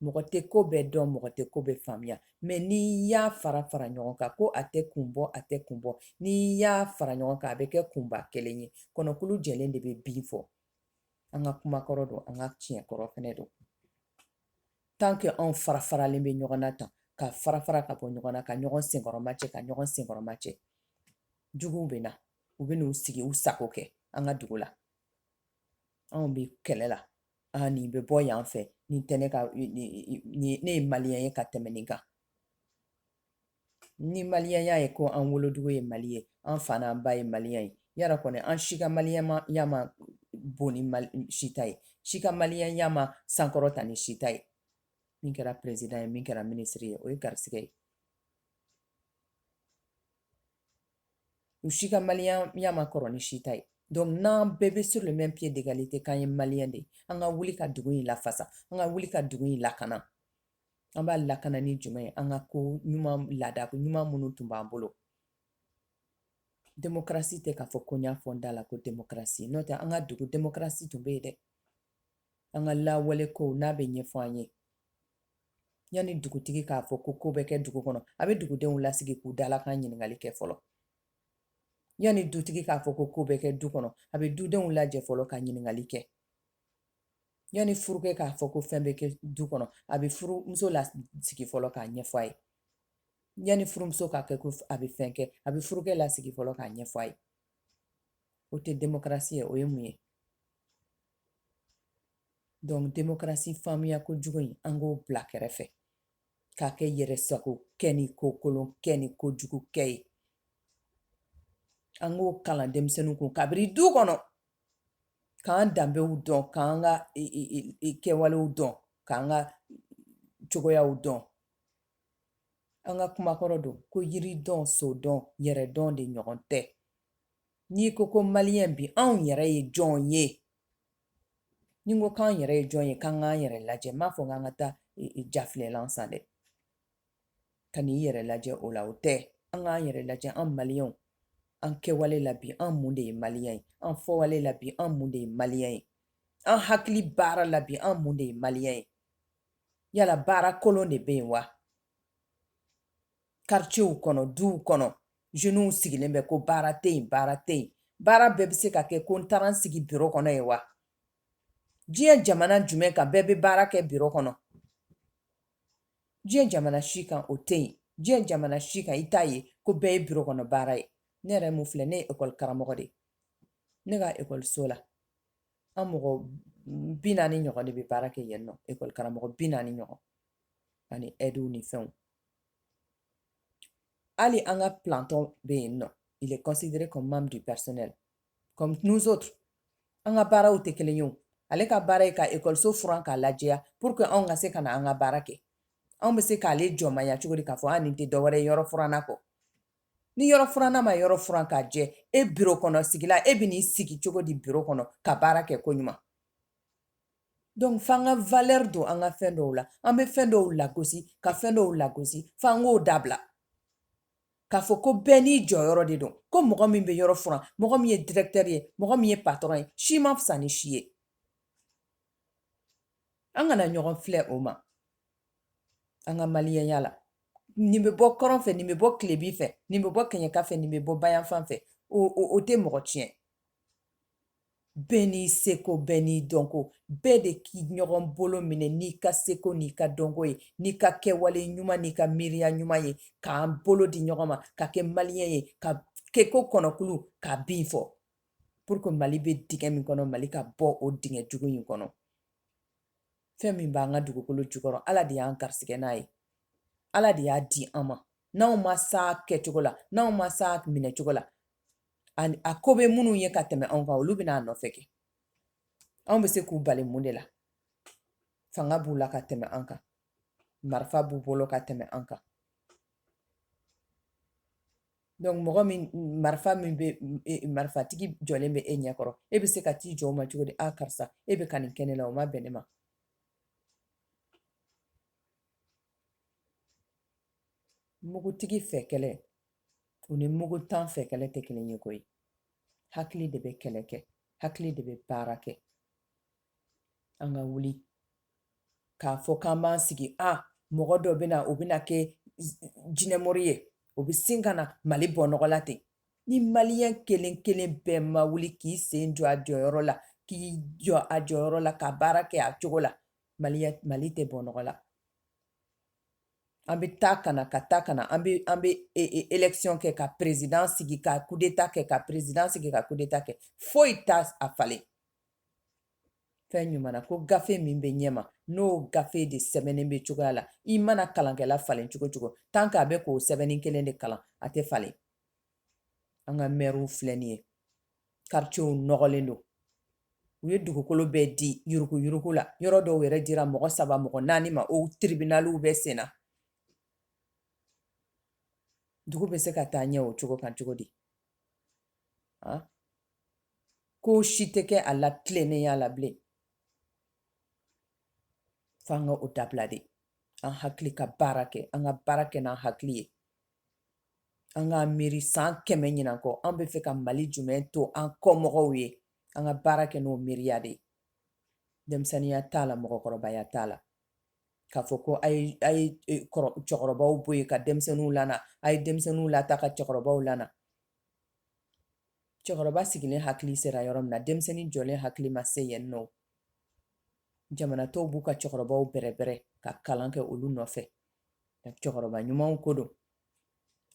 mɔgɔ tɛ ko bɛɛ dɔn mɔgɔ tɛ ko bɛɛ faamuya mais n'i y'a fara fara ɲɔgɔn kan ko a tɛ kun bɔ a tɛ kun bɔ n'i y'a fara ɲɔgɔn kan a bɛ kɛ kunba kelen ye kɔnɔkulu jɛlen de bɛ bii fɔ an ka kumakɔrɔ don an ka tiɲɛkɔrɔ fɛnɛ don tant que anw fara faralen bɛ ɲɔgɔn na tan ka fara fara ka bɔ ɲɔgɔn na ka ɲɔgɔn senkɔrɔma cɛ ka ɲɔgɔn senkɔrɔma cɛ juguw bɛ na u bɛ n'u sigi u sago kɛ an ka dugu la anw bɛ kɛlɛ la aa nin bɛ bɔ yan fɛ nin tɛ ne ka ne ye maliyɛn ye ka tɛmɛ nin kan ni maliyɛnya ye ko an wolodugu ye mali ye an fa n'an ba ye maliyɛn ye yara kɔni an si ka maliyɛnya man bon ni si ta ye si ka maliyɛnya ma sankɔrɔta ni si ta ye min kɛra perezidan ye min kɛra minisiri ye o ye garisigɛ ye u si ka maliyɛnya man kɔrɔ ni si ta ye donc n'an bɛɛ bɛ sur le même pied d'égalité k'an ye maliyɛn de ye an ka wuli ka dugu in lafasa an ka wuli ka dugu in lakana an b'a lakana ni jumɛn ye an ka ko ɲuman laada ko ɲuman minnu tun b'an bolo demokarasi tɛ k'a fɔ ko n y'a fɔ n da la ko demokarasi n'o tɛ an ka dugu demokarasi tun bɛ yen dɛ an ka lawaleko n'a bɛ ɲɛfɔ an ye yanni dugutigi k'a fɔ ko ko bɛ kɛ dugu kɔnɔ a bɛ dugudenw lasigi k'u dalakan ɲininkali kɛ fɔlɔ yanni dutigi k'a fɔ ko ko bɛ kɛ du kɔnɔ a bɛ dudenw lajɛ fɔlɔ ka ɲininkali kɛ yanni furukɛ k'a fɔ ko fɛn bɛ kɛ du kɔnɔ a bɛ furumuso lasigi fɔlɔ k'a ɲɛfɔ a ye yanni furumuso k'a kɛ ko a bɛ fɛn kɛ a bɛ furukɛ lasigi fɔlɔ k'a ɲɛfɔ a ye o tɛ demokarasi ye o ye mun ye donc demokarasi faamuya ko jugu in an k'o bila kɛrɛfɛ k'a kɛ yɛrɛ sago kɛ ni ko kolon kɛ ni ko jugu kɛ ye an k'o kalan denmisɛnninw kun kabiri du kɔnɔ k'an danbew dɔn k'an ka kɛwalew dɔn k'an ka cogoyaw dɔn an ka kumakɔrɔ don ko yiri dɔn so dɔn yɛrɛ dɔn de ɲɔgɔn tɛ n'i ko ko maliyɛn bi anw yɛrɛ ye jɔn ye ni n ko k'an yɛrɛ ye jɔn ye k'an k'an yɛrɛ lajɛ n m'a fɔ k'an ka taa e, e, jafilɛlan san dɛ ka n'i yɛrɛ lajɛ o la o tɛ an k'an yɛrɛ lajɛ an maliyɛnw an kɛwale la bi an mun de ye maliyɛn ye an fɔwale la bi an mun de ye maliyɛn ye an hakili baara la bi an mun de ye maliyɛn ye yala baara kolon de bɛ yen wa karicɛw kɔnɔ duw kɔnɔ zeniw sigilen bɛ ko baara tɛ yen baara tɛ yen baara bɛɛ bɛ se ka kɛ ko n taara n sigi biro kɔnɔ ye wa diɲɛ jamana jumɛn kan bɛɛ bɛ baara kɛ biro kɔnɔ diɲɛ jamana si kan o tɛ yen diɲɛ jamana si kan i t'a ye ko bɛɛ ye biro kɔnɔ baara ye ne yɛrɛ min filɛ ne ye ekɔli karamɔgɔ de ye ne ka ekɔliso la an mɔgɔ bi naani ɲɔgɔn de bɛ baara kɛ yen nɔ ekɔli karamɔgɔ bi naani ɲɔgɔn ani ɛdiw ni fɛnw Hali an ka planton bɛ yen nɔ il est considéré comme membre du personnel comme nous autres an ka baaraw tɛ kelen ye o ale ka baara ye ka ekɔliso furan k'a lajɛya pour que anw ka se ka na an ka baara kɛ anw bɛ se k'ale jɔnmaya cogo di k'a fɔ a nin tɛ dɔwɛrɛ yɔrɔ furanna kɔ ni yɔrɔ furanna ma yɔrɔ furan k'a jɛ e biro kɔnɔ sigila e bɛ n'i sigi cogo di biro kɔnɔ ka baara kɛ koɲuman dɔnku f'an ka valɛri don an ka fɛn dɔw la an bɛ fɛn dɔw lagosi ka fɛn dɔw lagosi f'an k'o dabila k'a fɔ ko bɛɛ n'i jɔyɔrɔ de don ko mɔgɔ min bɛ yɔrɔ furan mɔgɔ min ye direktɛri ye mɔgɔ min ye patɔrɔn ye si man fisa ni si ye an kana ɲɔgɔn filɛ o ma an ka maliyɛnya la nin bɛ bɔ kɔrɔn fɛ nin bɛ bɔ tilebin fɛ nin bɛ bɔ kɛɲɛka fɛ nin bɛ bɔ bayanfan fɛ o tɛ mɔgɔ tiɲɛ bɛɛ n'i seko bɛɛ n'i dɔnko bɛɛ de k'i ɲɔgɔn bolo minɛ n'i ka seko n'i ka dɔnko ye n'i ka kɛwale ɲuman n'i ka miiriya ɲuman ye k'an bolo di ɲɔgɔn ma ka kɛ maliyɛn ye ka kɛ ko kɔnɔkulu ka bii fɔ pour que mali bɛ dingɛ min kɔnɔ mali ka bɔ o dingɛ jugu in kɔnɔ fɛn min b'an ka dugukolo jukɔrɔ ala de y'an garisigɛ n'a ye ala de y'a di an ma n'anw ma s'a kɛcogo la n'anw ma s'a minɛcogo la ani a ko bɛ minnu ye ka tɛmɛ anw kan olu bɛ na a nɔfɛ kɛ anw bɛ se k'u bali mun de la fanga b'u la ka tɛmɛ an kan marifa b'u bolo ka tɛmɛ an kan donc mɔgɔ min marifa min bɛ e, marifatigi jɔlen bɛ e ɲɛ kɔrɔ e bɛ se ka t'i jɔ o ma cogo di a karisa e bɛ ka nin kɛ ne la o ma bɛn ne ma mugutigi fɛ kɛlɛ o ni muguntan fɛ kɛlɛ tɛ kelen ye koyi hakili de bɛ kɛlɛ kɛ hakili de bɛ baara kɛ an ka wuli k'a fɔ k'an b'an sigi a mɔgɔ dɔ bɛ na o bɛna kɛ jinɛmɔri ye o bɛ sin ka na mali bɔ nɔgɔ la ten ni maliyɛn kelen kelen bɛɛ ma wuli k'i sen jɔ a jɔyɔrɔ la k'i jɔ a jɔyɔrɔ la ka baara kɛ a cogo la mali mali tɛ bɔ nɔgɔ la an bɛ taa ka na ka taa ka na an bɛ an bɛ e, e, élection kɛ ka président sigi ka coup d'état kɛ ka président sigi ka coup d'état kɛ foyi t'a falen fɛn ɲuman na ko gafe min bɛ ɲɛma n'o gafe de sɛbɛnnen bɛ cogoya la i mana kalankɛla falen cogo o cogo tant que a bɛ k'o sɛbɛnni kelen de kalan a tɛ falen an ka mɛriw filɛ nin ye karicɛw nɔgɔlen don u ye dugukolo bɛɛ di yuruguyurugu la yɔrɔ dɔw yɛrɛ dira mɔgɔ saba mɔgɔ naani ma o tiribinaliw bɛ senna dugu bɛ se ka taa ɲɛ o cogo kan cogo di ko si tɛ kɛ a la tilennenya la bilen f'an ka o dabila de an hakili ka baara kɛ an ka baara kɛ n'an hakili ye an ka miiri san kɛmɛ ɲinan kɔ an bɛ fɛ ka mali jumɛn to an kɔmɔgɔw ye an ka baara kɛ n'o miiriya de ye denmisɛnninya t'a la mɔgɔkɔrɔbaya t'a la k'a fɔ ko a ye e, cɛkɔrɔbaw bɔ yen ka denmisɛnninw lana a ye denmisɛnninw lataa ka cɛkɔrɔbaw lana cɛkɔrɔba sigilen hakili sera yɔrɔ min na denmisɛnnin jɔlen hakili ma se yen non jamana tɔw b'u ka cɛkɔrɔbaw bɛrɛbɛrɛ ka kalan kɛ olu nɔfɛ cɛkɔrɔba ɲumanw ko don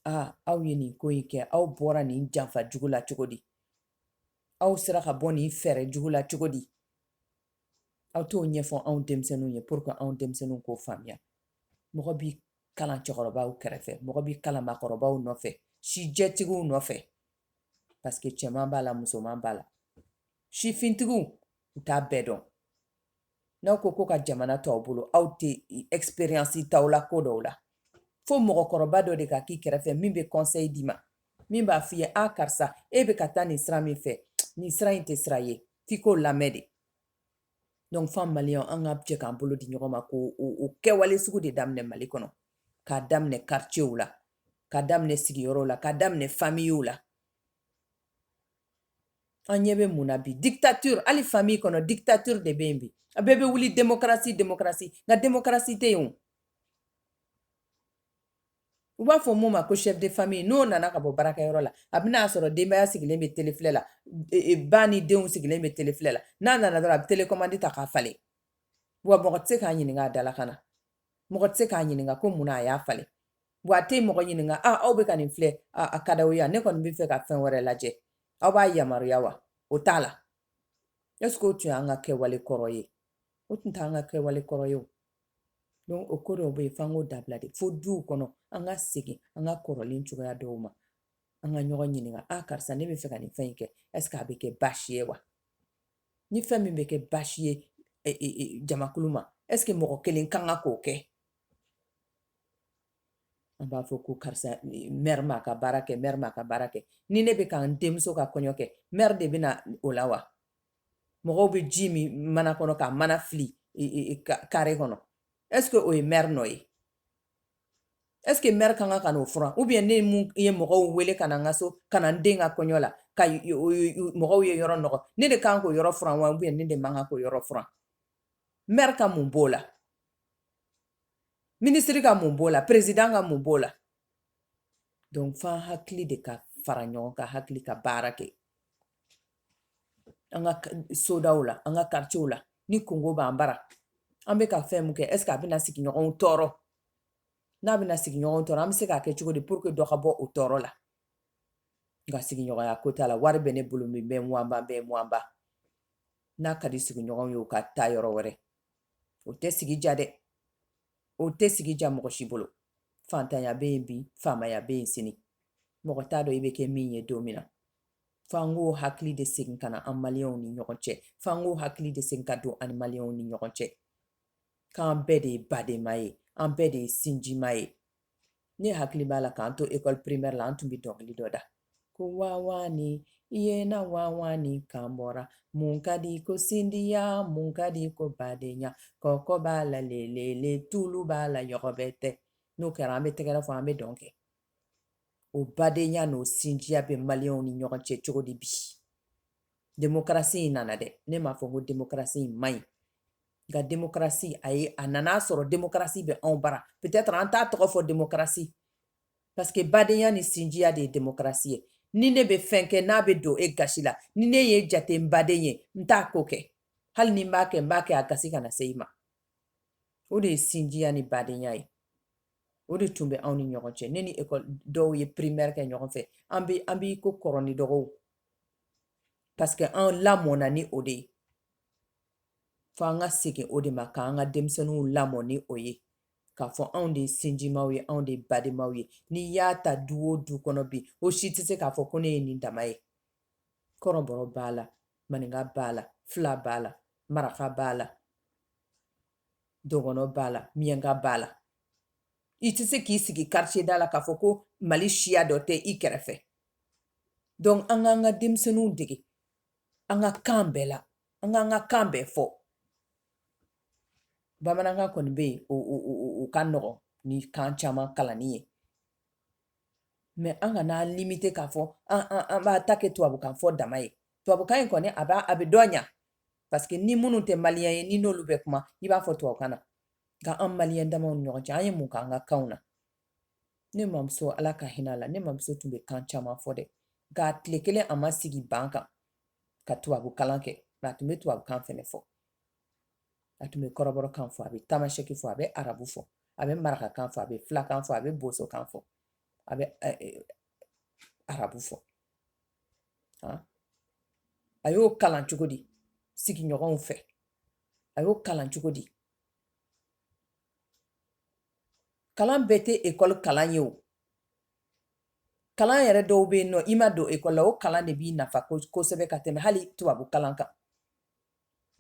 aa aw ye nin ko in kɛ aw bɔra nin janfa jugu la cogo di aw sera ka bɔ nin fɛɛrɛ jugu la cogo di aw t'o ɲɛfɔ anw denmisɛnninw ye pour que anw denmisɛnninw k'o faamuya mɔgɔ b'i kalan cɛkɔrɔbaw kɛrɛfɛ mɔgɔ b'i kalan maakɔrɔbaw nɔfɛ sijɛtigiw nɔfɛ parce que cɛman b'a la musoman b'a la sifintigiw u t'a bɛɛ dɔn n'aw ko ko ka jamana to aw bolo aw tɛ expérience t'aw la ko dɔw la fo mɔgɔkɔrɔba dɔ de ka k'i kɛrɛfɛ min bɛ conseil d'i ma min b'a f'i ye a karisa e bɛ ka taa nin sira min fɛ nin sira in tɛ sira ye f'i k'o lamɛn de donc f'an maliyɛn an ka jɛ k'an bolo di ɲɔgɔn ma ko o kɛwale sugu de daminɛ mali kɔnɔ k'a daminɛ karicɛw la k'a daminɛ sigiyɔrɔw la k'a daminɛ famiw la an ɲɛ bɛ mun na bi dictature hali famille kɔnɔ dictature de bɛ yen bi a bɛɛ bɛ wuli démocratie démocratie nka démocratie tɛ yen o u b'a fɔ min ma ko chef de famille n'o nana ka bɔ baarakɛyɔrɔ la a bɛna a sɔrɔ denbaya sigilen bɛ tele filɛ la e, e, ba ni denw sigilen bɛ tele filɛ la n'a nana dɔrɔn a bɛ télécommande ta k'a falen wa mɔgɔ tɛ se k'a ɲininka a dala ka na mɔgɔ tɛ se k'a ɲininka ko mun na a y'a falen Wa a tɛ mɔgɔ ɲininka aaa aw bɛ ka nin filɛ a ka d'aw ye ne kɔni bɛ fɛ ka fɛn wɛrɛ lajɛ aw b'a yamaruya wa o t'a la e o tun y'an ka kɛwale kɔrɔ ye o tun t'an ka kɛwale kɔrɔ ye donc ko dɔw bɛ yen f'an k'o dabila de fo duw kɔnɔ an ka segin an ka kɔrɔlen cogoya dɔw ma an ka ɲɔgɔn ɲininka a ah, karisa ne bɛ fɛ ka nin fɛn in kɛ est-ce que a bɛ kɛ baasi ye wa ni fɛn min bɛ kɛ baasi ye e, e, e, jamakulu ma est-ce que mɔgɔ kelen kan ka k'o kɛ an b'a fɔ ko karisa mɛri m'a ka baara kɛ mɛri m'a ka baara kɛ ni ne bɛ ka n denmuso ka kɔɲɔ kɛ mɛri de bɛna o la wa mɔgɔw bɛ ji min mana kɔnɔ ka mana fili kare kɔnɔ ɛseke o ye mɛri nɔ ye ɛseke mɛri ka kan ka n'o furan ubiyɛn ne min ye mɔgɔw wele ka na n ka so ka na n den ka kɔɲɔ la ka mɔgɔw ye yɔrɔ nɔgɔ ne de kan k'o yɔrɔ furan wa ubiyɛn ne de man kan k'o yɔrɔ furan mɛri ka mun b'o la minisiri ka mun b'o la perezidan ka mun b'o la donc f'an hakili de ka fara ɲɔgɔn kan hakili ka baara kɛ an ka sodaw la an ka karitiyew la ni kunko b'an bara an bɛ ka fɛn mun kɛ ɛseke a bɛna sigiɲɔgɔnw tɔɔrɔ n'a bɛna sigiɲɔgɔnw tɔɔrɔ an bɛ se k'a kɛ cogo di puruke dɔ ka bɔ o tɔɔrɔ la nka sigiɲɔgɔnya ko t'a la wari bɛ ne bolo min bɛ muwanba bɛɛ muwanba n'a ka di sigiɲɔgɔnw ye u ka taa yɔrɔ wɛrɛ o tɛ sigi diya dɛ o tɛ sigi diya mɔgɔ si bolo fantanya bɛ yen bi faamaya bɛ yen sini mɔgɔ t'a dɔn i bɛ kɛ min ye don min na f'an k'o hakili de segin ka na an maliyɛnw ni ɲɔgɔn cɛ f'an k'o hakili de segin ka don an maliyɛnw ni ɲɔgɔn cɛ k'an bɛɛ de ye badenma ye an bɛɛ de ye sinjima ye ne hakili b'a la k'an to ekɔli primaire la an tun bɛ dɔnkili dɔ da ko wawaani i ye na wawaani kan bɔra mun ka di ko sinjiya mun ka di ko badenya kɔkɔ b'a la lelele tulu b'a la yɔgɔbɛtɛ n'o kɛra an bɛ tɛgɛrɛ fɔ an bɛ dɔn kɛ o badenya n'o sinjiya bɛ maliyɛnw ni ɲɔgɔn cɛ cogo di bi demokarasi in nana dɛ ne m'a fɔ ko demokarasi in man ɲi nka demokarasi a ye a nan'a sɔrɔ demokarasi bɛ anw bara peut-être an t'a tɔgɔ fɔ demokarasi parce que badenya ni sinjiya de ye demokarasi ye ni ne bɛ fɛn kɛ n'a bɛ don e gasi la ni ne y'e jate baden ye n t'a ko kɛ hali ni n b'a kɛ n b'a kɛ a gasi kana se i ma o de ye sinjiya ni badenya ye o de tun bɛ anw ni ɲɔgɔn cɛ ne ni dɔw ye primaire kɛ ɲɔgɔn fɛ an bɛ an b'i ko kɔrɔw ni dɔgɔw parce que an lamɔna ni o de ye fo an ka segin o de ma k'an ka denmisɛnninw lamɔ ni o ye k'a fɔ anw de ye sinjimaw ye anw de ye badenmaw ye n'i y'a ta du o du kɔnɔ bi o si tɛ se k'a fɔ ko ne ye nin dama ye kɔrɔbɔrɔ b'a la maninka b'a la fila b'a la maraka b'a la dɔgɔnɔ b'a la miyanka b'a la i tɛ se k'i sigi karitiye da la k'a fɔ ko mali siya dɔ tɛ i kɛrɛfɛ dɔnku an k'an ka denmisɛnninw dege an ka kan bɛɛ la an k'an ka kan bɛɛ fɔ bamanankan kɔni bɛ yen o ka nɔgɔn ni kan caman kalanni ye mɛ an kan'an limite k'a fɔ an b'a ta kɛ tubabukan fɔ dama ye tubabukan in kɔni a b'a a bɛ dɔn ɲɛ parce que ni minnu tɛ maliyɛn ye ni n'olu bɛ kuma i b'a fɔ tubabukan na nka an maliyɛn dama ɲɔgɔn cɛ an ye mun k'an ka kan na ne mamuso ala ka hin'a la ne mamuso tun bɛ kan caman fɔ dɛ nka tile kelen a ma sigi ban kan ka tubabu kalan kɛ nka a tun bɛ tubabu kan fɛnɛ fɔ a tun bɛ kɔrɔbɔrɔ kan fɔ a bɛ tamasɛki fɔ a bɛ arabu fɔ a bɛ maraka kan fɔ a bɛ filakan fɔ a bɛ boso kan fɔ a bɛ arabu fɔ a y'o kalan cogo di sigiɲɔgɔnw fɛ a y'o kalan cogo di kalan bɛɛ tɛ ekɔli kalan ye o kalan yɛrɛ dɔw bɛ yen nɔ i ma don ekɔli la o kalan de b'i nafa kosɛbɛ ka tɛmɛ hali tubabu kalan kan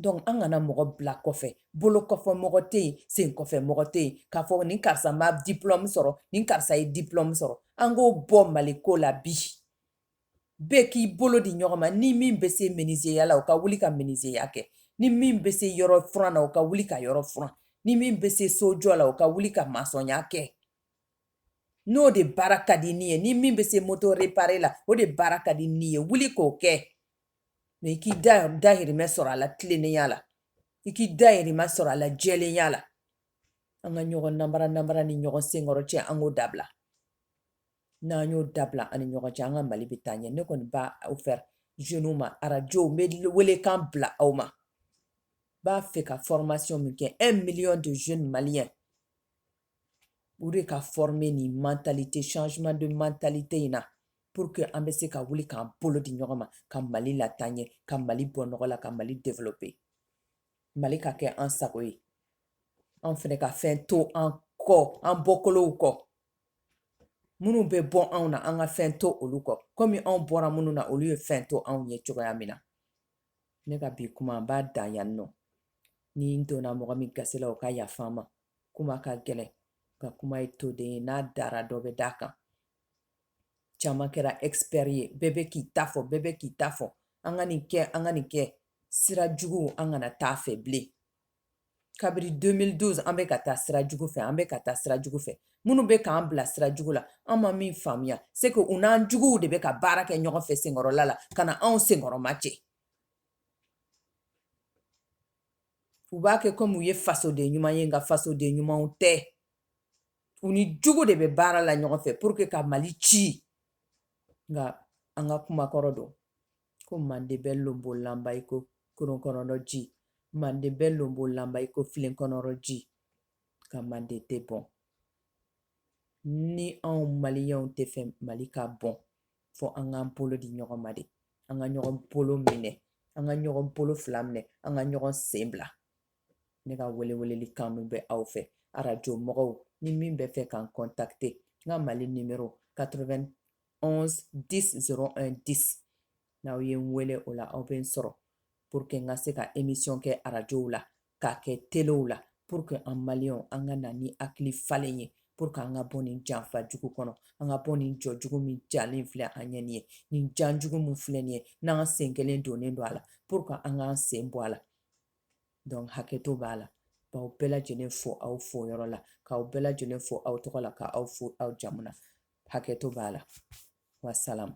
dɔnku an kana mɔgɔ bila kɔfɛ bolo kɔfɛ mɔgɔ tɛ yen sen kɔfɛ mɔgɔ tɛ yen k'a fɔ ni karisa ma diplɔmu sɔrɔ ni karisa ye diplɔmu sɔrɔ an k'o bɔ mali ko la bi bɛɛ k'i bolo di ɲɔgɔn ma ni min bɛ se minizeya la u ka wuli ka minizeya kɛ ni min bɛ se yɔrɔ furan na u ka wuli ka yɔrɔ furan ni min bɛ se sojɔ la u ka wuli ka masɔnya kɛ n'o de baara ka di ni ye ni min bɛ se moto repare la o de baara ka di ni ye wuli k'o kɛ mɛ i k'i dahirimɛ sɔrɔ a la tilennenya la i k'i dahirimɛ sɔrɔ a la jɛlenya la an ka ɲɔgɔn nanbara nanbara ni ɲɔgɔn senkɔrɔ cɛ an k'o dabila n'an y'o dabila an ni ɲɔgɔn cɛ an ka mali bɛ taa ɲɛ ne kɔni b'a fɔ jeunew ma arajo bɛ welekan bila aw ma b'a fɛ ka formation min kɛ un million de jeunes maliens o de ka former nin mentalité changement de mentalité in na pour que an bɛ se ka wuli k'an bolo di ɲɔgɔn ma ka mali lataa ɲɛ ka mali bɔ nɔgɔ la ka mali développer mali ka kɛ an sago ye an fɛnɛ ka fɛn to an kɔ an bɔkolow kɔ minnu bɛ bɔ anw na an ka fɛn to olu kɔ komi anw bɔra minnu na olu ye fɛn to anw ye cogoya min na ne ka bi kuma n b'a dan yan nɔ ni n donna mɔgɔ min gasi la o ka yafa n ma kuma ka gɛlɛn nka kuma ye toden ye n'a dara dɔ bɛ d'a kan caman kɛra expert ye bɛɛ bɛ k'i ta fɔ bɛɛ bɛ k'i ta fɔ an ka nin kɛ an ka nin kɛ sira jugu an kana taa fɛ bilen kabiri 2012 an bɛ ka taa sira jugu fɛ an bɛ ka taa sira jugu fɛ minnu bɛ k'an bila sira jugu la an ma min faamuya c'est que u n'an juguw de bɛ ka baara kɛ ɲɔgɔn fɛ senkɔrɔla la ka na anw senkɔrɔma cɛ u b'a kɛ komi u ye fasoden ɲuman ye nka fasoden ɲumanw tɛ u ni jugu de bɛ baara la ɲɔgɔn fɛ pour que ka mali ci nka an ka kumakɔrɔ don ko manden bɛ lonbolanba i ko koron kɔnɔdɔ ji manden bɛ lonbolanba i ko filen kɔnɔdɔ ji nka manden tɛ bɔn ni anw maliyɛnw tɛ fɛ mali ka bɔn fɔ an k'an bolo di ɲɔgɔn ma de an ka ɲɔgɔn bolo minɛ an ka ɲɔgɔn bolo fila minɛ an ka ɲɔgɔn sen bila ne ka wele weleli kan bɛ aw fɛ arajo mɔgɔw ni min bɛ fɛ ka n kɔntakite n ka mali nimero 91 10 01 10 n'aw ye n wele o la aw bɛ n sɔrɔ pour que n ka se ka emisiyɔn kɛ arajow la k'a kɛ telew la pour que an maliyɛnw an ka na ni hakili falen ye pour que an ka bɔ nin janfa jugu kɔnɔ an ka bɔ nin jɔ jugu min jalen filɛ an ɲɛ nin ye nin jan jugu min filɛ nin ye n'an sen kelen donnen don a la pour que an k'an sen bɔ a la donc hakɛto b'a la k'aw bɛɛ lajɛlen fo aw fo yɔrɔ la k'aw bɛɛ lajɛlen fo aw tɔgɔ la ka aw fo aw jamu na hakɛto b'a la wasalamu